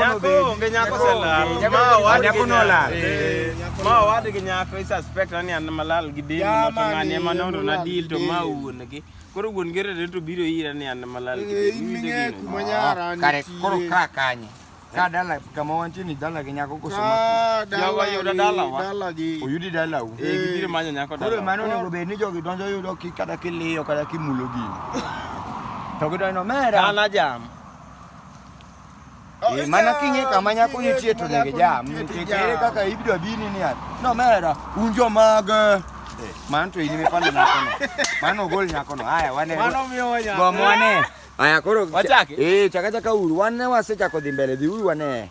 Nyako onge nyako selal. Ma wadi nyako nolal. Ma wadi gi nyako i suspect ani an malal gi deni no to ngani ema nondo na deal to ma wuon gi. Koro wuon gi rere to biro ira ni an malal gi deni. Kare koro ka kanye. Ka dala kama wantie ni dala gi nyako koso ma. Jawa yuda dala wa. Dala gi. Oyudi dala u. Eh gibiro manyo nyako dala. Koro mano onego bed ni jogi donjo yudo ki kata kiliyo kata kimulo gini. To gidonjo mera. Kana jam. Eh, mana king'e kama nyako nitie to nyaka jam nikech ere kaka ibiro abini ni ati nomera un jomag eh, mano to in mipando nyakono mano ogol nyakono haya wane gomo wane haya koro wachake eh chaka chaka uru wane wasechako dhi mbele dhi uru wane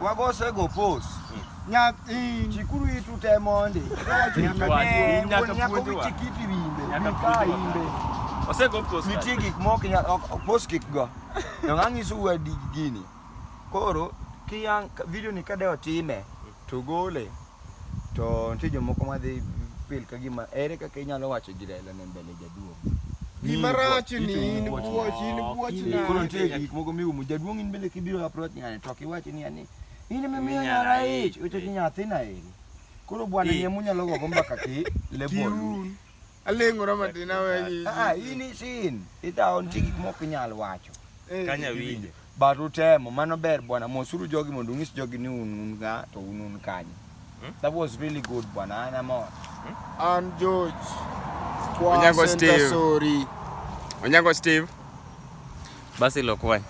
Wagose go pos. Nyak in chikuru itu te mondi. Nyaka nyaka wichikiti bimbe. Nyaka imbe. Ose go pos. Nitie gik moko nyaka pos kik go. Yo nganyisu wedi gini. Koro kiyang video ni kade otime to gole. To nitie jomoko madhi feel ka gima ere kaka inyalo wacho gi Raila ne mbele jaduong'. Gima rach ni in buoch, in buoch na. Koro nitie gik moko miumo jaduong' in bende kibiro approach ng'ani to kiwachi ni ani in mimiyo nyara ich, ochoki nyathina eri. Koro bwana yie munyalo gogo mbaka ki level. Aleng'ora matin awenyi. Ah, in isin. Idhawo nitie gik mok inyal wacho. Eh. Kanya winje. But utemo, mano ber bwana, mosuru jogi mondo ung'is jogi ni un un ka to un un kanye. Hmm? That was really good bwana, an amor. Hmm? An George. Kwa Onyango Steve. Sorry. Onyango Steve. Basi lokwany.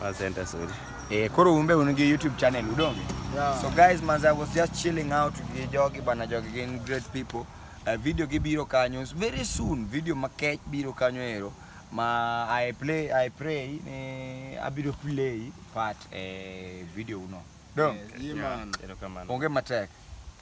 Wa center sorry. Eh, koro umbe un gi YouTube channel udonge. Yeah. So guys, man, I was just chilling out with jogi bwana, jogi gin great people. Uh, video gi biro kanyo very soon, video makech biro kanyo ero ma I play I pray ni abiro play part e video uno. Dong. Yes, yeah, man. Onge matek.